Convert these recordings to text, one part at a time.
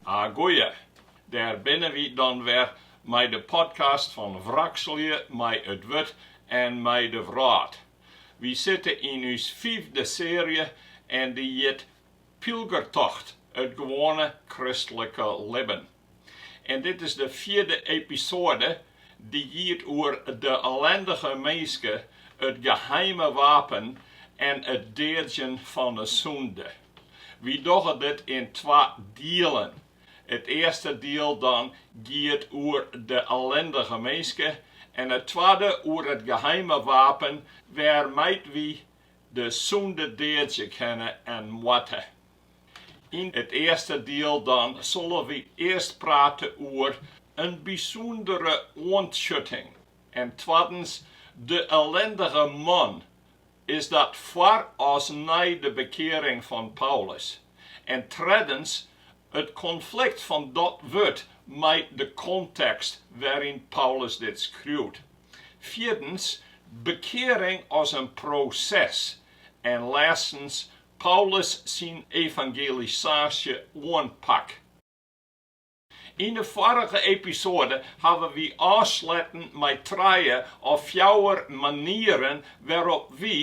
A goeie, dêr binne wy dan wer mei de podcast fan Wrakselje mei it wurd en mei de wrâld. Wy sitte yn ús fiifde searje en dy hjit Pylgertocht, it gewoane kristlike libben. En dit is de fierde episoade dy giet oer de ellindige minske, it geheime wapen en it deadzjen fan 'e sûnde. Wy dogge dit yn twa dielen. It earste diel dat giet oer de ellindige minske en it twadde oer it geheime wapen wêrmei't wy de sûnde deadzje kinne en moatte. Yn it earste diel dan sille wy earst prate oer in bysûndere oantsjutting en twaddens de ellindige man, is dat foar as nei de bekearing fan Paulus, en treddens it konflikt fan dat wurd mei de kontekst wêryn't Paulus dit skriuwt. Fierdens, bekearing as in proses. En lêstens, Paulus syn evangelisaasje-oanpak. Yn de foarige episoade hawwe wy ôfsluten mei trije of fjouwer manieren wêrop't wy,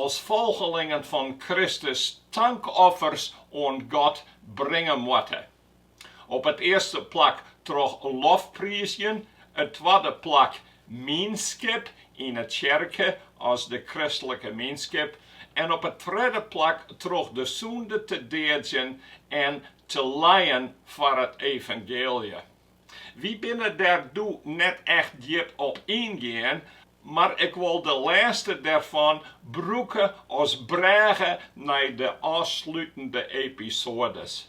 as folgelingen fan Kristus, tankoffers oan God bringe moatte. Op it earste plak troch lofpriizjen, it twadde plak mienskip yn 'e tsjerke as de kristlike mienskip en op it tredde plak troch de sûnde te deadzjen en te lijen foar it evangeelje. Wy binne dêr doe net echt djip op yngien, mar ik wol de lêste dêrfan brûke as brêge nei de ôfslutende episoades.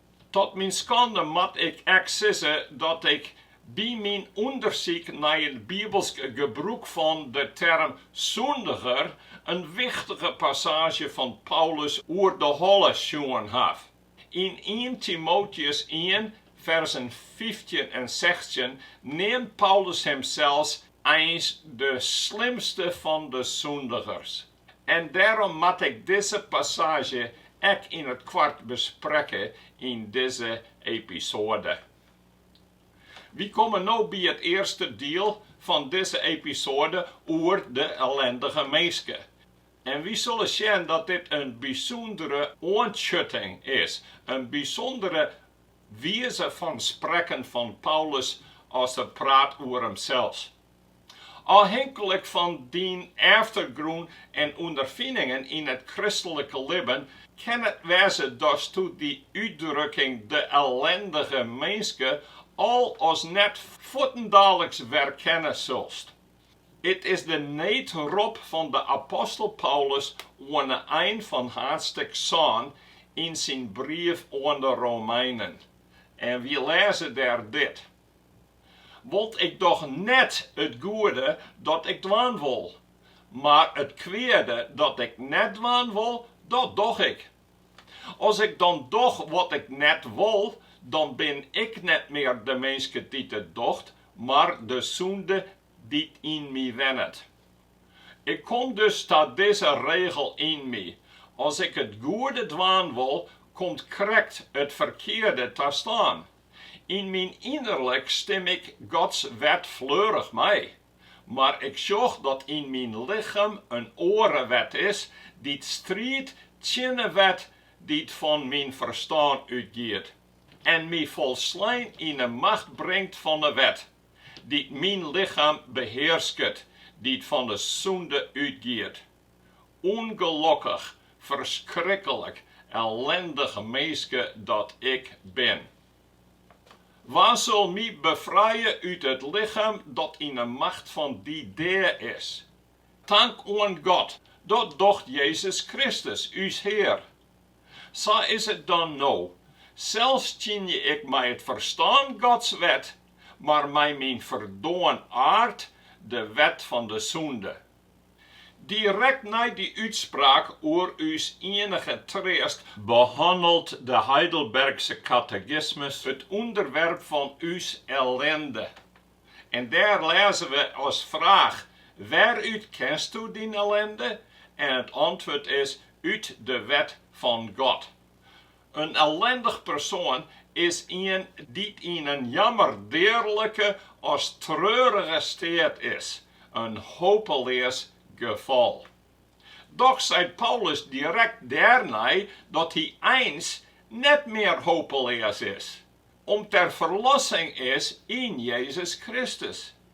Ta myn skande moat ik ek sizze dat ik by myn ûndersyk nei it bibelsk gebrûk fan de term sûndiger in wichtige passaazje fan Paulus oer de holle sjoen haw. Yn ien Timoteus ien, ferzen fyftjin en sechstjin neamt Paulus himsels eins de slimste fan de sûndigers. En dêrom moat ik dizze passaazje ek yn it koart besprekke yn dizze episoade. Wy komme no by it earste diel fan dizze episoade oer de ellindige minske. En wy sille sjen dat dit in bysûndere oantsjutting is, in bysûndere wize fan sprekken fan Paulus as er praat oer himsels. Ofhinklik fan dyn eftergrûn en ûnderfiningen yn it kristlike libben kin it wêze datsto dy útdrukking de ellindige minske al as net fuortendaliks werkenne silst. It is de needrop fan de apostel Paulus oan 'e ein fan haadstik sân yn syn brief oan de Romeinen. En wy lêze dêr dit, Want ik doch net it goede dat ik dwaan wol, mar it kweade dat ik net dwaan wol, dat doch ik. As ik dan doch wat ik net wol, dan bin ik net mear de minske dy't docht, mar de sûnde dy't yn my wennet. Ik kom dus ta dizze regel yn my, as ik it goede dwaan wol, komt krekt it ferkearde ta stân. Yn myn ynerlik stim ik Gods wet fleurich mei, mar ik sjoch dat yn myn lichem in oare wet is dy't striidt tsjin 'e wet dy't fan myn ferstân útgiet en my folslein yn 'e macht bringt fan 'e wet dy't myn lichem behearsket, dy't fan 'e sûnde útgiet. ûngelokkich, ferskriklik ellindich minske dat ik bin. Wa sil my befrije út it lichem dat yn 'e macht fan dy dea is? Tank oan God, dat docht Jezus Kristus, ús Hear. Sa is it dan no, sels tsjinje ik mei it ferstân Gods wet, mar mei myn ferdoarn aard de wet fan de sûnde. Direkt nei dy útspraak oer ús ienige treast behannelt de Heidelbergske Katekismus it ûnderwerp fan ús ellinde. En dêr lêze we as fraach, Wêrút kensto dyn ellinde? En it antwurd is, Ut de wet fan God. In ellindich persoan is ien dy't yn in jammerdearlike as treurige steat is, in hopeleas gefal. Dochs seit Paulus direkt dêrnei dat hy eins net mear hopeleas is, om't der ferlossing is yn Jezus Kristus.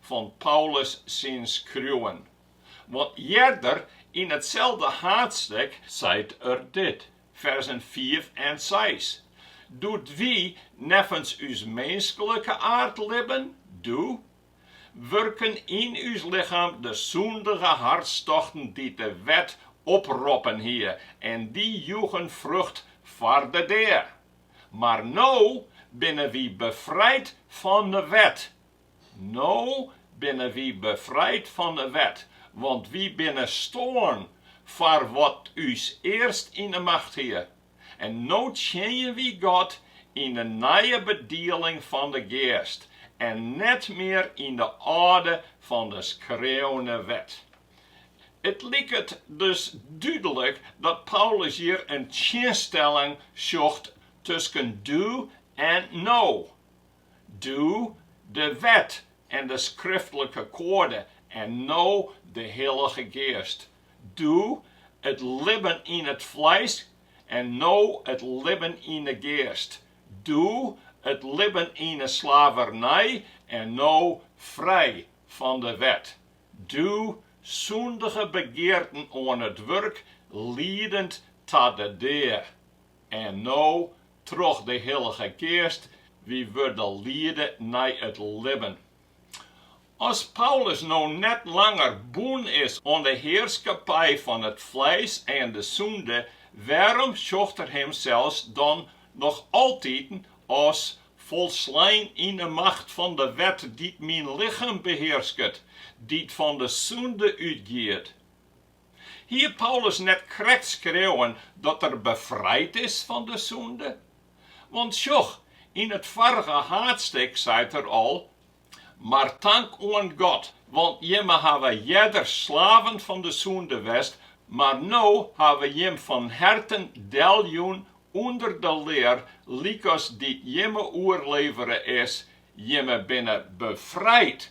fan Paulus syn skriuwen, want earder yn itselde haadstik seit er dit, ferzen fiif en seis, Doe't wy neffens ús minsklike aard libben, doe, wurken yn ús lichem de sûndige hartstochten dy't de wet oproppen hie en dy joegen frucht foar de dea. Mar no binne wy befrijd fan de wet, No binne wy befrijd fan 'e wet, want wy binne stoarn foar wat ús earst yn 'e macht hie. En no tsjinje wy God yn 'e nije bedieling fan 'e Geast en net mear yn 'e âlde fan 'e skreaune wet. It liket dus dúdlik dat Paulus hjir in tsjinstelling sjocht tusken doe en no. Doe de wet en de skriftlike koade en no de Hillige Geast. Doe it libben yn it fleis en no it libben yn 'e Geast. Doe it libben yn 'e slavernij en no frij fan de wet. Doe sûndige begearten oan it wurk, liedend ta de dea. En no, troch de Hillige Geast, wy wurde liede nei it libben. As Paulus no net langer bûn is oan de hearskippij fan it fleis en de sûnde, wêrom sjocht er himsels dan noch altiten as folslein yn 'e macht fan de wet dy't myn lichem behearsket, dy't fan de sûnde útgiet? Hie Paulus net krekt skreaun dat er befrijd is fan de sûnde? Want sjoch, yn it foarige haadstik seit er al, Mar tank oan God, want jimme hawwe earder slaven fan de sûnde west, mar no hawwe jim fan herten deljûn ûnder de lear lykas dy't jimme oerlevere is, jimme binne befrijd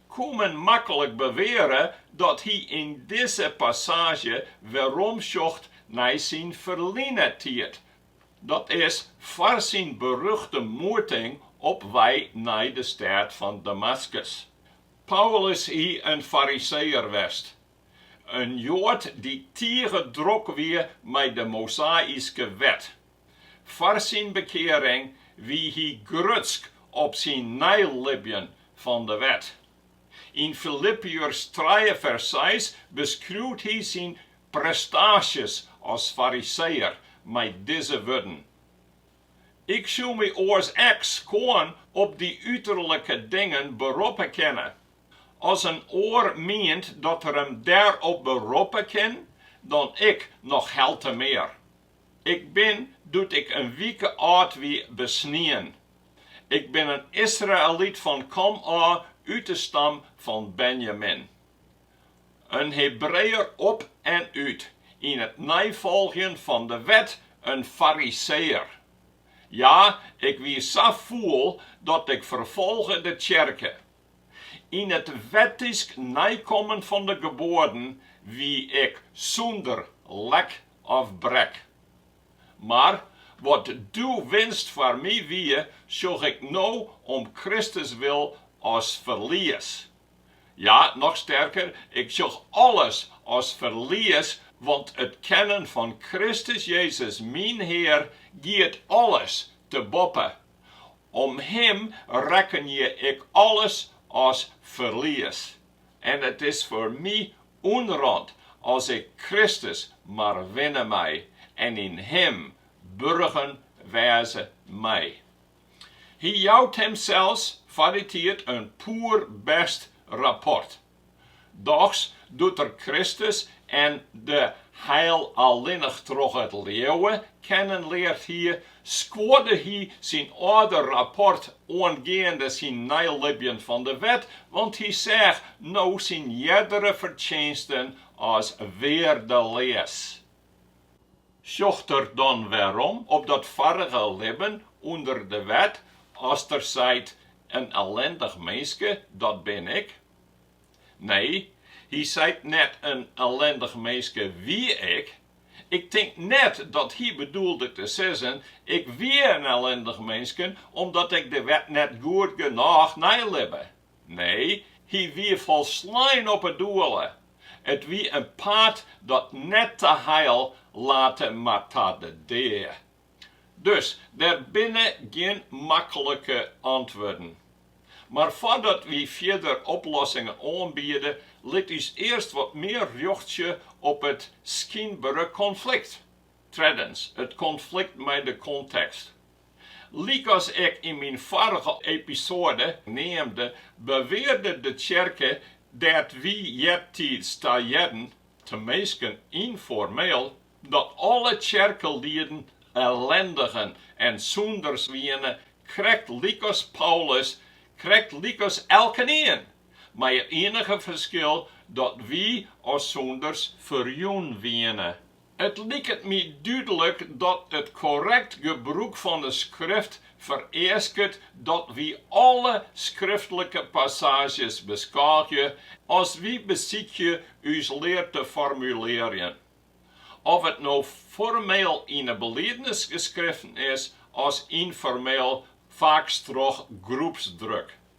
koe men maklik beweare dat hy yn dizze passaazje werom sjocht nei syn ferline tiid, dat is, foar syn beruchte moeting op wei nei de stêd fan Damaskus. Paulus hie in fariseeër west, in Joad dy't tige drok wie mei de Mosaïske Wet, Foar syn bekearing wie hy grutsk op syn neilibjen fan de wet. Yn Filippiërs trije fers seis beskriuwt hy syn prestaasjes as Fariseeër mei dizze wurden, Ik soe my oars ek skoan op dy uterlike dingen beroppe kinne. As in oar mient dat er him dêrop beroppe kin, dan ik noch heltemear. Ik bin, doe't ik in wike âld wie, besnien. Ik bin in Israëlyt fan komôf, út de stam fan Benjamin. In Hebreeër op en út, yn it neifolgjen fan de wet in Fariseeër. Ja, ik wie sa fûl dat ik ferfolge de tsjerke. Yn it wettysk neikommen fan de geboaden wie ik sûnder lek of brek. Mar wat doe winst foar my wie, sjoch ik no om Kristus wil as ferlies. Ja, noch sterker, ik sjoch alles as ferlies, want it kennen fan Kristus Jezus myn Hear giet alles te boppe Om Him rekkenje ik alles as ferlies, en it is foar my ûnrant as ik Kristus mar winne mei en yn Him burgen wêze mei. Hy jout himsels foar dy tiid in poerbêst rapport. Dochs doe't er Kristus en de heil allinnich troch it leauwe kennen leard hie, skuorde hy syn âlde rapport oangeande syn neilibjen fan de wet, want hy seach no syn eardere fertsjinsten as weardeleas. Sjocht er dan wêrom op dat foarige libben ûnder de wet as er seit, in ellendich minske, dat bin ik? Nee, hy seit net in ellendich minske wie ik. Ik tink net dat hy bedoelde te sizzen, ik wie in ellendich minske omdat ik de wet net goed genôch neilibbe. Nee, hy wie folslein op 'e doele. It wie in paad dat net ta heil late mar ta de dea. Dus der binne gjin makkelike antwurden. Mar foardat wy fierder oplossingen oanbiede, lit ús earst wat mear rjochtsje op it skynbere konflikt, treddens it konflikt mei de kontekst. Lykas ik yn myn foarige episoade neamde, bewearde de tsjerke dêr't wy eartiids ta hearden, teminsten ynformeel, dat alle tsjerkelieden ellindigen en sûnders wiene, krekt lykas Paulus, krekt lykas elkenien, mei it ienige ferskil dat wy as sûnders ferjûn wiene. It liket my dúdlik dat it korrekt gebrûk fan de skrift fereasket dat wy alle skriftlike passaazjes beskôgje as wy besykje ús lear te formulearjen. Of it no formeel yn 'e beliednis geskreven is as ynformeel, faaks troch groepsdruk.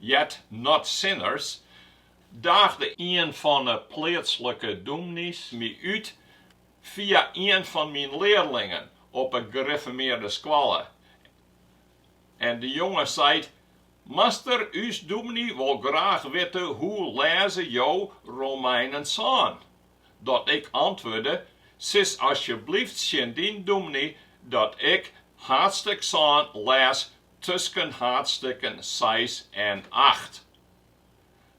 Yet Not Sinners, daagde ien fan 'e pleatslike dûmnys my út fia ien fan myn learlingen op 'e gerifformearde skoalle. En de jonge seit, Master, ús dûmny wol graach witte hoe lêze jo Romeinen sân? Dat ik antwurde, Sis asjeblyft tsjin dyn dûmny dat ik haadstik sân lês tusken haadstikken seis en acht.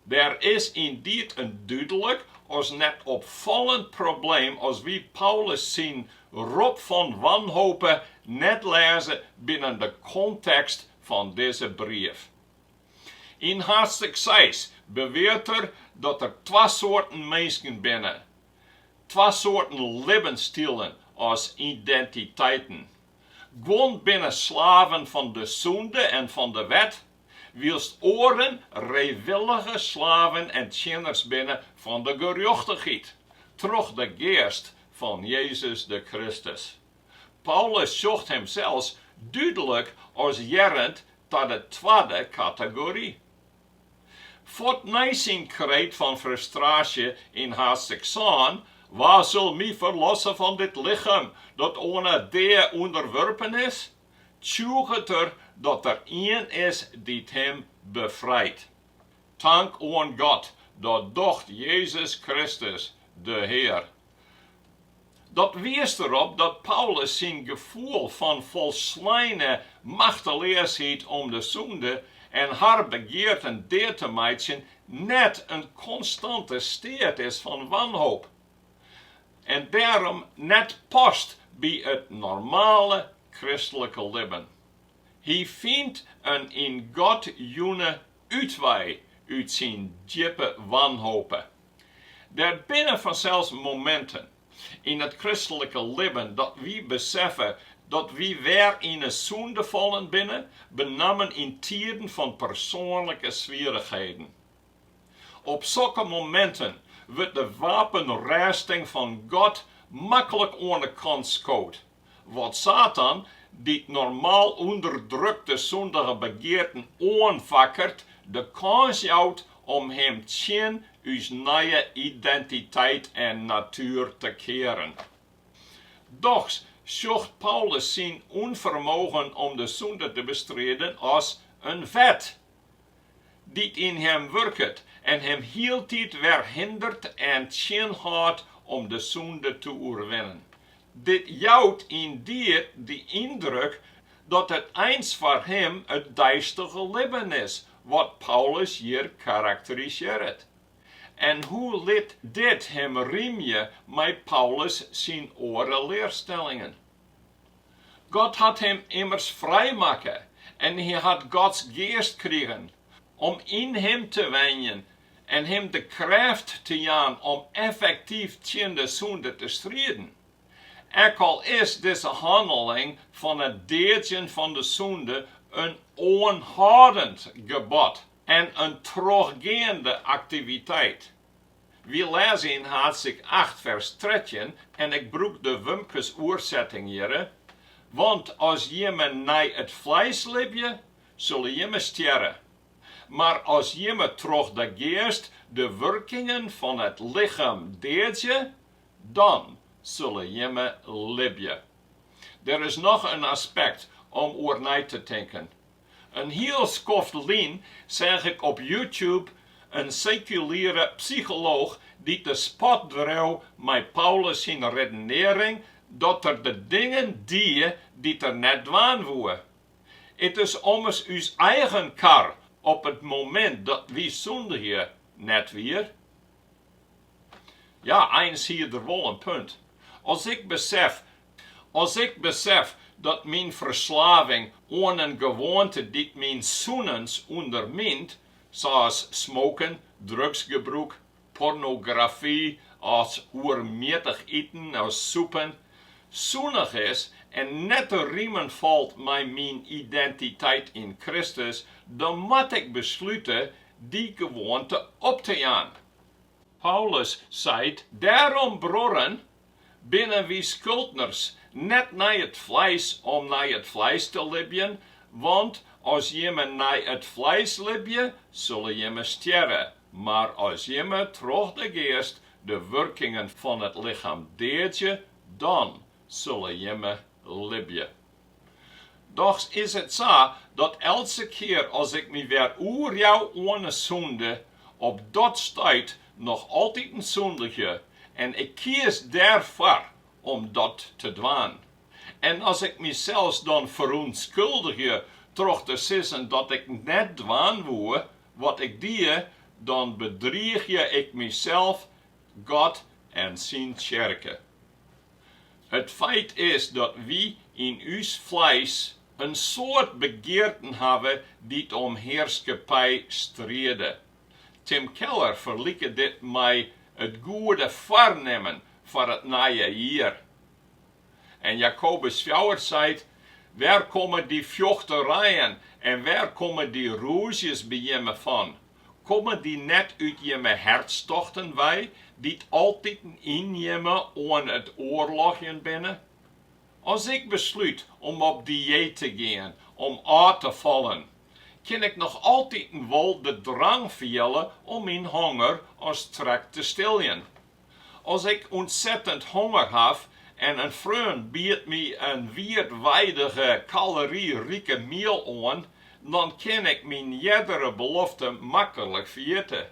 Der is yndied in dúdlik, as net opfallend, probleem as wy Paulus syn rop fan wanhope net lêze binnen de kontekst fan dizze brief. Yn haadstik seis beweart er dat der twa soarten minsken binne, twa soarten libbensstilen as identiteiten. Guon binne slaven fan de sûnde en fan de wet, wylst oaren frijwillige slaven en tsjinners binne fan de gerjochtichheid, troch de Geast fan Jezus de Kristus. Paulus sjocht himsels dúdlik as hearrend ta de twadde kategory. Fuort nei syn kreet fan frustraasje yn haadstik sân, Wa sil my ferlosse fan dit lichem dat oan 'e dea ûnderwurpen is? tsjûget er dat der ien is dy't him befrijt. Tank oan God, dat docht Jezus Kristus, de Hear. Dat wiist der op dat Paulus syn gefoel fan folsleine machteleasheid om de sûnde en har begearten dea te meitsjen net in konstante steat is fan wanhoop en dêrom net past by it normale kristlike libben. Hy fynt in yn God jûne útwei út syn djippe wanhope. Der binne fansels mominten yn it kristlike libben dat wy beseffe dat wy wer yn 'e sûnde fallen binne, benammen yn tiden fan persoanlike swierrichheden. Op sokke mominten wurdt de wapenrêsting fan God maklik oan 'e kant skood. Wat Satan, dy't normaal ûnderdrukte sûndige begearten oanfakkeret, de kâns jout om him tsjin ús nije identiteit en natuer te kearen. Dochs sjocht Paulus syn ûnfermogen om de sûnde te bestriden as in wet. dy't yn him wurket en him hieltyd wer hindert en tsjinhâldt om de sûnde te oerwinnen. Dit jout yndied de yndruk dat it eins foar him it deistige libben is wat Paulus hjir karakterisearret. En hoe lit dit him rymje mei Paulus syn oare learstellingen? God hat him immers frijmakke en hy hat Gods geast krigen om yn him te wenjen en him de krêft te jaan om effektyf tsjin de sûnde te striden. Ek al is dizze hanneling fan it deadzjen fan de sûnde in oanhâldend gebod en in trochgeande aktiviteit, Wy lêze yn haadstik acht fers trettjin, en ik brûk de Wumkes oersetting hjirre, Want as jimme nei it fleis libje, sille jimme stjerre, mar as jimme troch de Geast de wurkingen fan it lichem deadzje, dan sille jimme libje. Der is noch in aspekt om oer nei te tinken. In hiel skoft lyn seach ik op YouTube in sekuliere psycholooch dy't de spot dreau mei Paulus syn redenearring dat er de dingen die dy't er net dwaan woe. It is ommers ús eigen kar op it momint dat wy sûndigje, net wier? Ja, eins hie er wol in punt. As ik besef dat myn ferslaving oan in gewoante dy't myn sûnens ûndermynt, sa's smoken, drugsgebrûk, pornografy as oermjittich iten as sûpen, sûndich is en net te rimen falt mei myn identiteit yn Kristus, dan moat ik beslute dy gewoante op te jaan. Paulus seit dêrom, Bruorren, binne wy skuldners net nei it fleis om nei it fleis te libjen, want as jimme nei it fleis libje, sille jimme stjerre, mar as jimme troch de Geast de wurkings fan it lichem deadzje, dan sille jimme libje. Dochs is it sa dat eltse kear as ik my wer oerjou oan 'e sûnde, op dat stuit noch altyd sûndigje en ik kies dêrfoar om dat te dwaan. En as ik mysels dan ferûntskuldigje troch te sizzen dat ik net dwaan woe wat ik die, dan bedriigje ik mysels, God en syn tsjerke. It feit is dat wy yn ús fleis in soad begearten hawwe dy't om hearskippij stride. Tim Keller ferliket dit mei it goede foarnimmen foar it nije jier. En Jakobus fjouwer seit, Wêr komme dy fjochterijen en wêr komme dy rûzjes by jimme fan? Komme dy net út jimme hertstochten wei, dy't altyd yn jimme oan it oarlogjen binne? As ik beslút om op dieet te gean om ôf te fallen, kin ik noch altiten wol de drang fiele om myn honger as trek te stiljen. As ik ûntsettend honger haw en in freon biedt my in oerdwealske, kaloryrike miel oan, dan kin ik myn eardere belofte maklik ferjitte.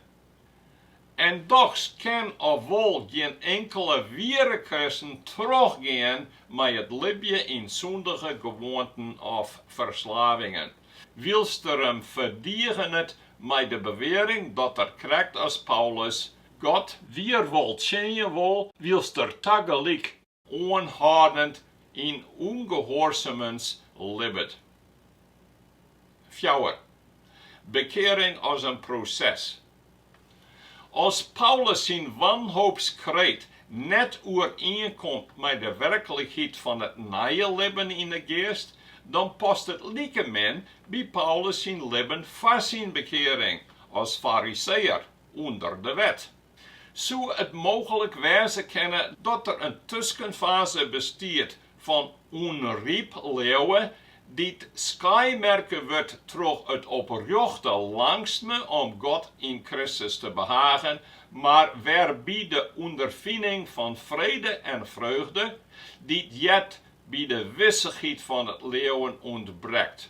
En dochs kin of wol gjin inkele wiere kristen trochgean mei it libje yn sûndige gewoanten of ferslavingen, wylst er him ferdigenet mei de bewearing dat er krekt as Paulus God wier wol tsjinje wol wylst er tagelyk oanhâldend yn ûngehoarsumens libbet. Fjouwer, bekearing as in proses. As Paulus syn wanhoopskreet net oerienkomt mei de werklikheid fan it nije libben yn 'e Geast, dan past it like min by Paulus syn libben foar syn bekearing as fariseër. ûnder de wet, soe it mooglik wêze kinne dat der in tuskenfaze bestiet fan ûnryp leauwe dy't skaaimerke wurdt troch it oprjochte langstme om God yn Kristus te behaagjen, mar wêrby't de ûnderfining fan frede en freugde, dy't heart by de wissichheid fan it leauwen, ûntbrekt.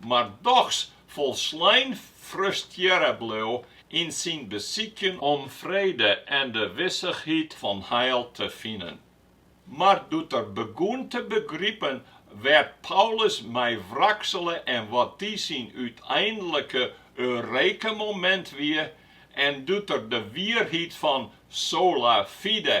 mar dochs folslein frustrearre bleau yn syn besykjen om frede en de wissichheid fan heil te finen. Mar doe't er begûn te begripen wêr't Paulus mei wraksele en wat dy syn úteinlike eureka-momint wie, en doe't er de wierheid fan sola fide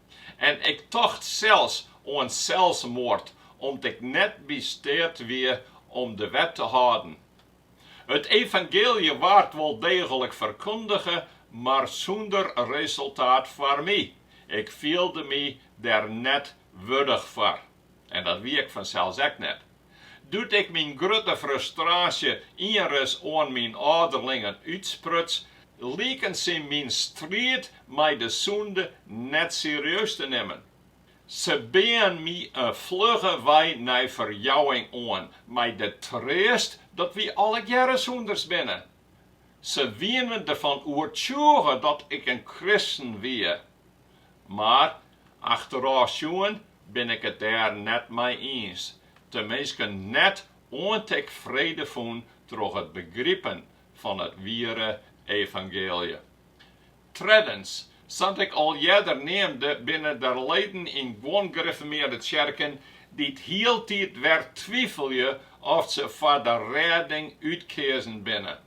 En ik tocht sels oan selsmoard om't ik net by steat wie om de wet te hâlden. It evangeelje waard wol deeglik ferkundige, mar sûnder resultaat foar my. Ik fielde my der net wurdich foar. En dat wie ik fansels ek net. Doe't ik myn grutte frustraasje ienris oan myn âlderlingen útspruts, liken sy myn striid mei de sûnde net serieus te nimmen. Se beaen my in flugge wei nei ferjouwing oan, mei de treast dat wy allegearre sûnders binne. Se wienen derfan oertsjûge dat ik in kristen wie. Mar achterôf sjoen bin ik it dêr net mei iens, teminsten net oant ik frede fûn troch it begripen fan it wiere evangeelje. Treddens, sa't ik al earder neamde, binne der leden yn guon grifformearde tsjerken dy't hieltyd wer twivelje oft se foar de rêding útkeazen binne.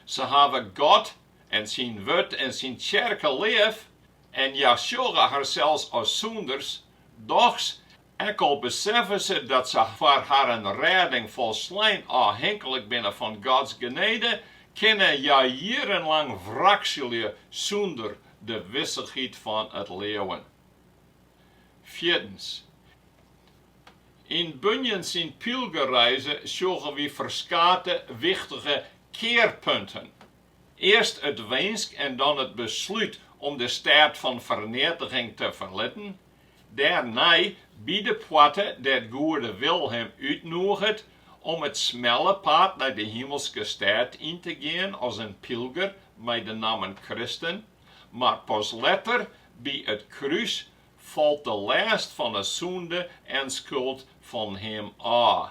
Se hawwe God en syn wurd en syn tsjerke leaf en hja sjogge harsels as sûnders, dochs ek al beseffe se dat se foar harren rêding folslein ôfhinklik binne fan Gods genede, kinne hja jierrenlang wrakselje sûnder de wissichheid fan it leauwen. Fierdens, yn Bunyan syn Pylgerreize sjogge wy ferskate wichtige kearpunten. Earst it winsk en dan it beslút om de stêd fan ferneatiging te ferlitten, dêrnei by de poarte dêr't Goede Wil him útnûget om it smelle paad nei de Himelske Stêd yn te gean as in pylger mei de nammen Kristen, mar pas letter by it krús falt de lêst fan 'e sûnde en skuld fan him ôf.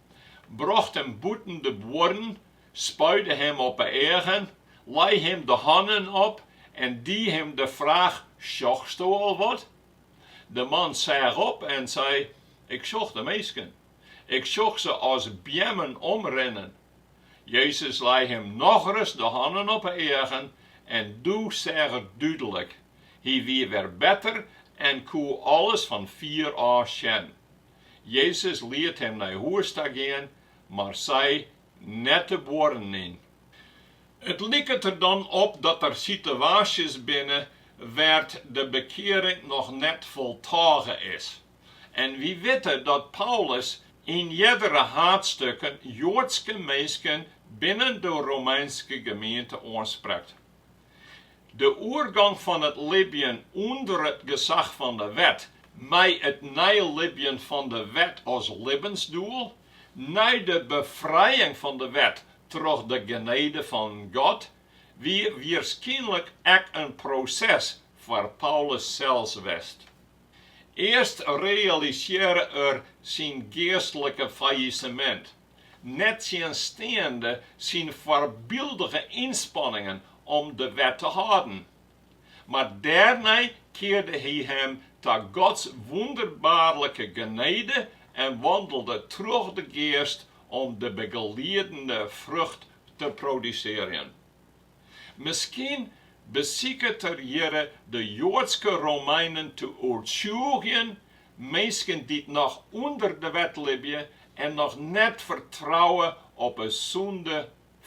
brocht him bûten de buorren, spuide him op 'e eagen, lei him de hannen op en die him de fraach, Sjochsto al wat? De man seach op en sei, Ik sjoch de minsken, ik sjoch se as beammen omrinnen. Jezus lei him nochris de hannen op 'e eagen en doe seach er dúdlik. Hy wie wer better en koe alles fan fier ôf sjen. Jezus liet him nei hûs ta gean, mar sei net de buorren yn. It liket der dan op dat der sitewaasjes binne wêr't de bekearing noch net foltôge is. En wy witte dat Paulus yn eardere haadstukken Joadske minsken binnen de Romeinske gemeente oansprekt. De oergong fan it libjen ûnder it gesach fan de wet mei it neilibjen fan de wet as libbensdoel, nei de befrijing fan de wet troch de genede fan God, wie wierskynlik ek in proses foar Paulus sels west. Earst realisearre er syn geastlike fallisemint, nettsjinsteande syn foarbyldige ynspanningen om de wet te hâlden. Mar dêrnei kearde hy him ta Gods wûnderbaarlike genede en wandelde troch de Geast om de begeliedende frucht te produsearjen. Miskien besiket er hjirre de Joadske Romeinen te oertsjûgjen, minsken dy't noch ûnder de wet libje en noch net fertrouwe op 'e sûnde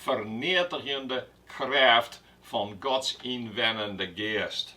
ferneatigjende krêft fan Gods ynwenjende Geast.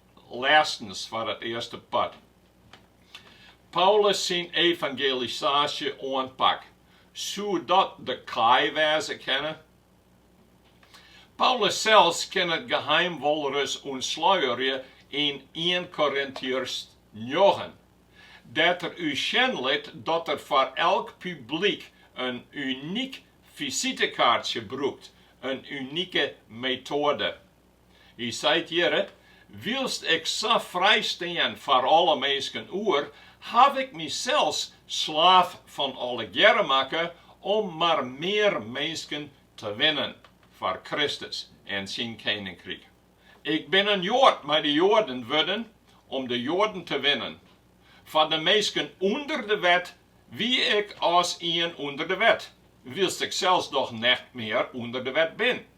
Lêstens foar it earste part. Paulus syn evangelisaasje-oanpak, soe dat de kaai wêze kinne? Paulus sels kin it geheim wolris ûntsluierje yn ien Korintiërs njoggen, dêr't er ús sjen lit dat er foar elk publyk in unyk fisitekaartsje brûkt, in unike metoade. Hy seit hjir, Wylst ik sa frij stean foar alle minsken oer, haw ik mysels slaaf fan allegearre makke om mar mear minsken te winnen foar Kristus en syn keninkryk. Ik bin in Joad mei de Joaden wurden om de Joaden te winnen. Foar de minsken ûnder de wet wie ik as ien ûnder de wet, wylst ik sels dochs net mear ûnder de wet bin.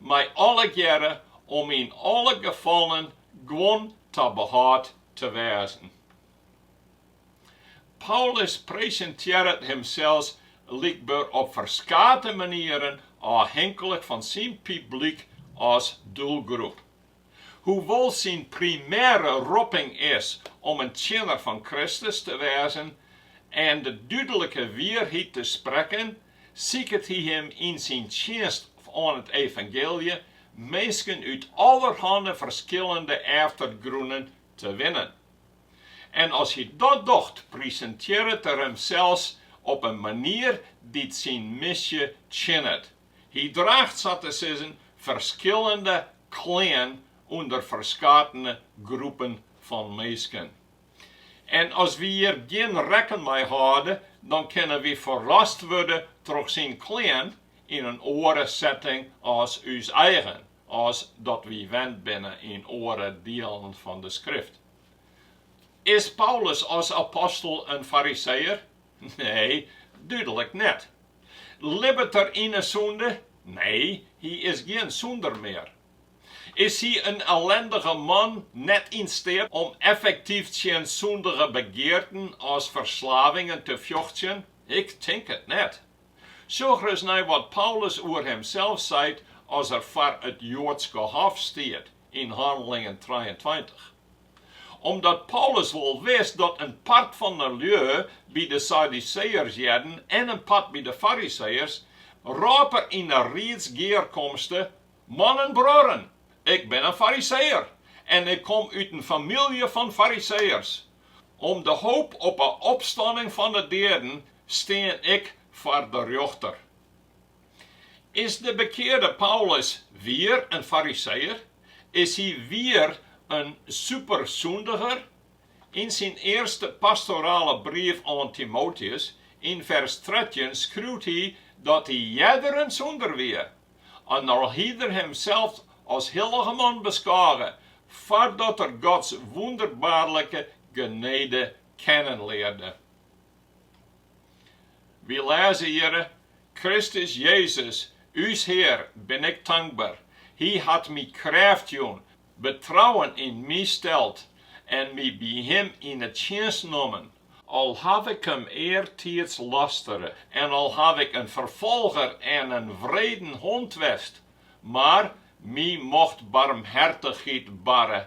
mei allegearre om yn alle gefallen guon ta behâld te wêzen. Paulus presintearret himsels blykber op ferskate manieren ôfhinklik fan syn publyk as doelgroep. Hoewol't syn primêre ropping is om in tsjinner fan Kristus te wêzen en de dúdlike wierheid te sprekken, siket hy yn syn tsjinst oan it evangylje minsken út allerhanne ferskillende eftergrûnen te winnen. En as hy dat docht, presintearret er himsels op in manier dy't syn misje tsjinnet. Hy draacht sa te sizzen ferskillende klean ûnder ferskatene groepen fan minsken. En as wy hjir gjin rekken mei hâlde, dan kinne wy ferrast wurde troch syn klean yn in oare setting as ús eigen, as dat wy wend binne yn oare dielen fan de Skrift. Is Paulus as apostel in fariseër? Nee, dúdlik net. Libbet er yn 'e sûnde? Nee, hy is gjin sûnder mear. Is hy in ellindige man, net yn steat om effektyf tsjin sûndige begearten as ferslavingen te fjochtsjen? Ik tink it net. Sjoch ris nei wat Paulus oer himsels seit as er foar it Joadske hof stiet yn Hannelingen trijeentweintich. Omdat Paulus wol wist dat in part fan de lju by de Saduseërs hearde en in part by de Fariseeërs, rôp er yn 'e riedsgearkomste, Mannen, bruorren, ik bin in Fariseër en ik kom út in famylje fan Fariseërs. Om de hoop op 'e opstanning fan 'e deaden stean ik foar de rjochter. Is de bekearde Paulus wier in fariseeër? Is hy wier in supersûndiger? Yn syn earste pastorale brief oan Timoteus, yn fers trettjin, skriuwt hy dat hy earder in sûnder wie, en al hie er himsels as hillige man beskôge, foardat er Gods wûnderbaarlike genede kennenlearde. Wy lêze hjir, Kristus Jezus, ús Hear, bin ik tankber. Hy hat my krêft jûn, betrouwen yn my steld en my by Him yn 'e tsjinst nommen. Al haw ik Him eartiids lastere en al haw ik in ferfolger en in wreden hond west, mar my mocht barmhertichheid barre,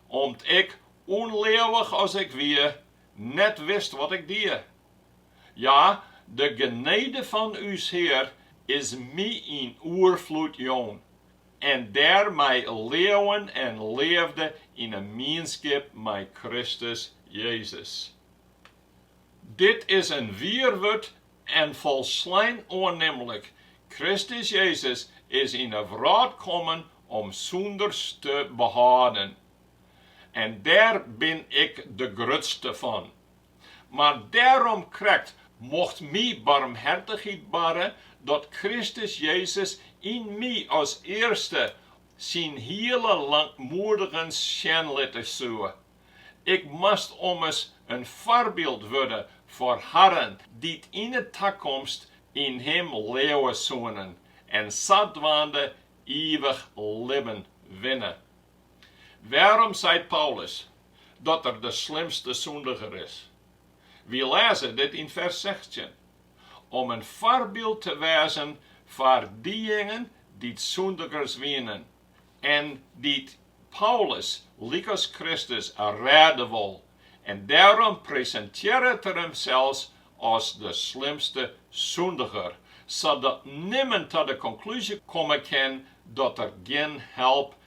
om't ik, ûnleauwich as ik wie, net wist wat ik die. Ja, de genede fan ús Hear is my yn oerfloed jûn, en dêrmei leauwen en leafde yn 'e mienskip mei Kristus Jezus. Dit is in wier wurd en folslein oannimlik, Kristus Jezus is yn 'e wrâld kommen om sûnders te behâlden. en dêr bin ik de grutste fan. Mar dêrom krekt mocht my barmhertichheid barre dat Kristus Jezus yn my as earste syn hiele lankmoedigens sjen litte soe. Ik moast ommers in foarbyld wurde foar harren dy't yn 'e takomst yn him leauwe soenen en sadwaande ivich libben winne. Wêrom seit Paulus dat er de slimste sûndiger is? Wy lêze dit yn fers sechstjin, Om in foarbyld te wêzen foar dejingen dy't sûndigers wienen en dy't Paulus lykas Kristus rêde wol, en dêrom presintearret er himsels as de slimste sûndiger, sadat nimmen ta de konklúzje komme kin dat der gjin help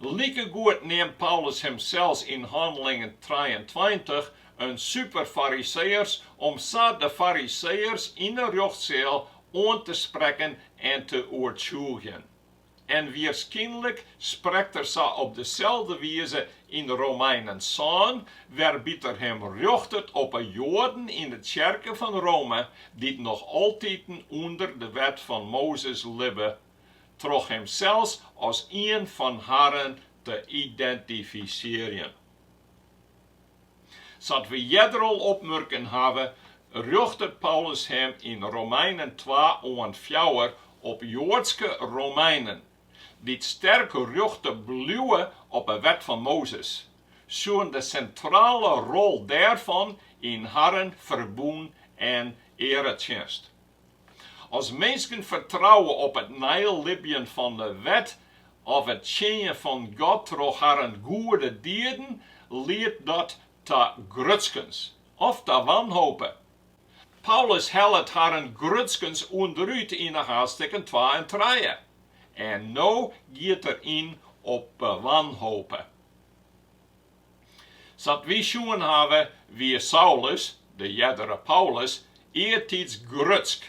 Likegoed neamt Paulus himsels yn Hannelingen trijeentweintich in superfariseeërs om sa de fariseeërs yn 'e rjochtseal oan te sprekken en te oertsjûgjen. En wierskynlik sprekt er sa op deselde wize yn de Romeinen sân, wêrby't er him rjochtet op 'e Joaden yn 'e tsjerke fan Rome dy't noch altiten ûnder de wet fan Mozes libbe troch himsels as ien fan harren te identifisearjen. Sa't we earder al opmurken hawwe, rjochtet Paulus him yn Romeinen twa oant fjouwer op Joadske Romeinen, dy't sterk rjochte bliuwe op 'e Wet fan Mozes, sjoen de sintrale rol dêrfan yn harren ferbûn en earetsjinst. As minsken fertrouwe op it neilibjen fan de wet of it tsjinjen fan God troch harren goede dieden, liedt dat ta grutskens of ta wanhope. Paulus hellet harren grutskens ûnderút yn 'e haadstikken twa en trije, en no giet er yn op 'e wanhope. Sa't wy sjoen hawwe, wie Saulus, de eardere Paulus, eartiids grutsk,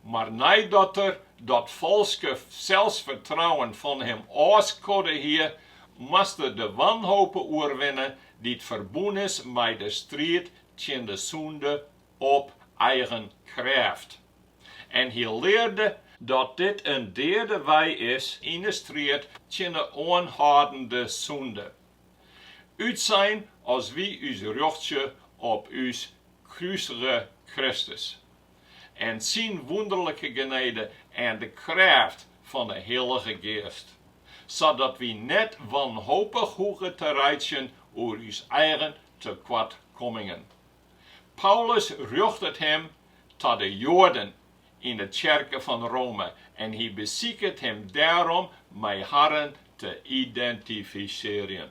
mar neidat er dat falske selsfertrouwen fan him ôfskodde hie, moast er de wanhope oerwinne dy't ferbûn is mei de striid tsjin de sûnde op eigen krêft. En hy learde dat dit in deade wei is yn de striid tsjin de oanhâldende sûnde. Utsein as wy ús rjochtsje op ús krusige Kristus en Syn wûnderlike genede en de krêft fan 'e Hillige Geast, sadat wy net wanhopich hoege te reitsjen oer ús eigen tekoartkommingen. Paulus rjochtet him ta de Joaden yn 'e tsjerke fan Rome en hy besiket him dêrom mei harren te identifisearjen.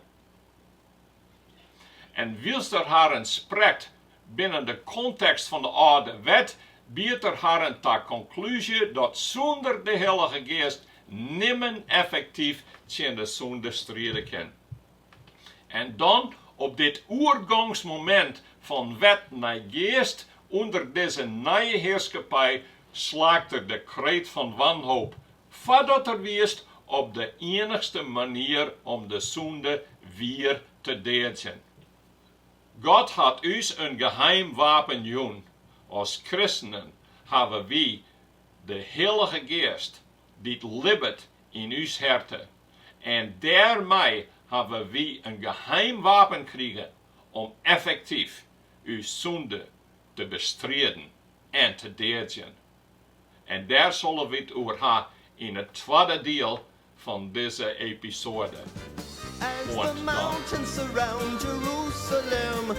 En wylst er harren oansprekt binnen de kontekst fan de Alde Wet, biedt er harren ta konklúzje dat sûnder de Hillige Geast nimmen effektyf tsjin de sûnde stride kin. En dan op dit oergangsmomint fan wet nei geast ûnder dizze nije hearskippij slaakt er de kreet fan wanhoop, foardat er wiist op de iennichste manier om de sûnde wier te deadzjen. God hat ús in geheim wapen jûn, as kristenen hawwe wy de Hillige Geast dy't libbet yn ús herte. en dêrmei hawwe wy in geheim wapen krige om effektyf ús sûnde te bestriden en te deadzjen. En dêr sille wy it oer ha yn it twadde diel fan dizze episoade.